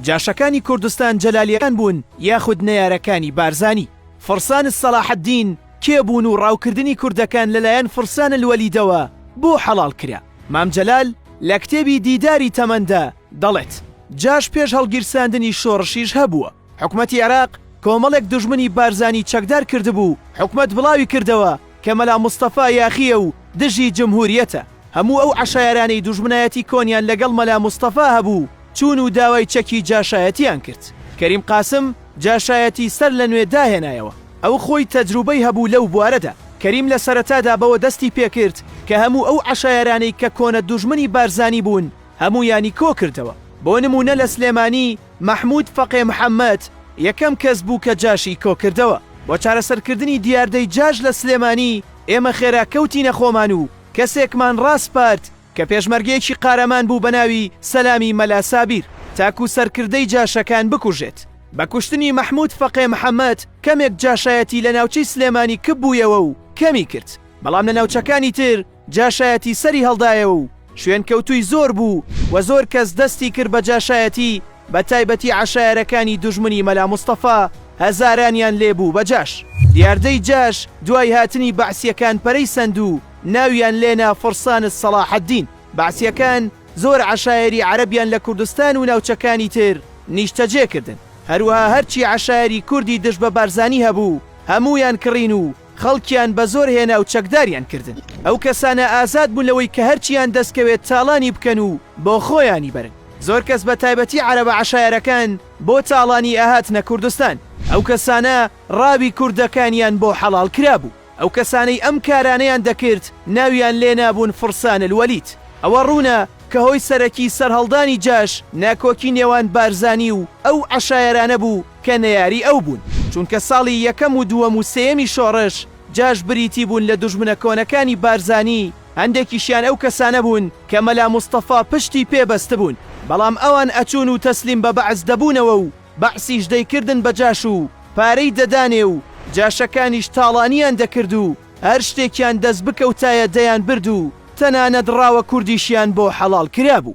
جاشەکانی کوردستان جەلالیەکان بوون یاخود نەیارەکانی بارزانی؟ فرسان الصلاحدین کێ بوون و ڕاوکردنی کوردەکان لەلایەن فرسان الولیدەوە بۆ حەڵاڵ کرا؟ مام جەلال لە کتێبی دیداری تەمەندا دەڵێت، جاش پێش هەڵگیرساندنی شۆڕشیش هەبووە، حکومەتی عێراق کۆمەڵێک دوژمنی بارزانی چەکدار کردبوو، حکومەت بڵاوی کردەوە، کە مەلا مستەفا یاخیە و دژی جمهوریەتە، هەموو ئەو عەشایەرانەی دوژمنایەتی کۆنیان لەگەڵ مەلا مستەفا هەبوو چوون و داوای چەکی جاشایەتیان کرد، کەریم قاسم جاشایەتی سەر لە نوێ داهێنایەوە، ئەو خۆی تەجروبەی هەبوو لەو بوارەدا، کەریم لە سەرەتادا بەوە دەستی پێکرد کە هەموو ئەو عەشایەرانەی کە کۆنە دوژمنی بارزانی بوون هەموویانی کۆکردەوە، بۆ نموونە لە سلێمانی، مەحمود فەقێ محەمەد یەکەم کەس بوو کە جاشی کۆکردەوە. بۆ چارەسەرکردنی دیاردەی جاش لە سلێمانی ئێمە خێرا کەوتینە خۆمان و کەسێکمان ڕاسپارد کە پێشمەرگەیەکی قارەمان بوو بە ناوی سەلامی مەلا سابیر تاکوو سەرکردەی جاشەکان بکوژێت. بە کوشتنی مەحمود فەقێ محەمەد کەمێک جاشایەتی لە ناوچەی سلێمانی کپ بوویەوە و کەمی کرد، بەڵام لە ناوچەکانی تر، جاشایەتی سەری هەڵدایەوە و شوێنکەوتووی زۆر بوو و زۆر کەس دەستی کرد بە جاشایەتی بە تایبەتی عەشایەرەکانی دوژمنی مەلا مستەفا هەزارانیان لێ بوو بە جاش. دیاردەی جاش دوای هاتنی بەعسیەکان پەرەی سەند و ناویان لێ نا فرسان صلاح الدین. بەعسیەکان زۆر عەشایەری عەرەبیان لە کوردستان و ناوچەکانی تر نیشتەجێ کردن. هەروەها هەرچی عەشایەری کوردی دژ بە بارزانی هەبوو هەموویان کڕین و خەڵکیان بە زۆر هێنا و چەکداریان کردن. ئەو کەسانە ئازاد بوون لەوەی کە هەرچییان دەست کەوێت تاڵانی بکەن و بۆ خۆیانی بەرن. زۆر کەس بە تایبەتی عەرەبە عەشایەرەکان بۆ تاڵانی ئەهاتنە کوردستان. ئەو کەسانە ڕاوی کوردەکانیان بۆ حەڵاڵ کرابوو. ئەو کەسانەی ئەم کارانەیان دەکرد ناویان لێ نابوون فرسان الولید. ئەوە ڕوونە کە هۆی سەرەکی سەرهەڵدانی جاش ناکۆکی نێوان بارزانی و ئەو عەشایەرانە بوو کە نەیاری ئەو بوون، چونکە ساڵی یەکەم و دووەم و سێیەمی شۆڕش جاش بریتی بوون لە دوژمنە کۆنەکانی بارزانی، هەندێکیشیان ئەو کەسانە بوون کە مەلا مستەفا پشتی پێ بەستبوون، بەڵام ئەوان ئەچوون و تەسلیم بە بەعس دەبوونەوە و بەعسیش دەیکردن بە جاش و پارەی دەدانێ و جاشەکانیش تاڵانیان دەکرد و هەر شتێکیان دەست بکەوتایە دەیان برد و تەنانەت ڕاوە کوردیشیان بۆ حەڵاڵ کرابوو.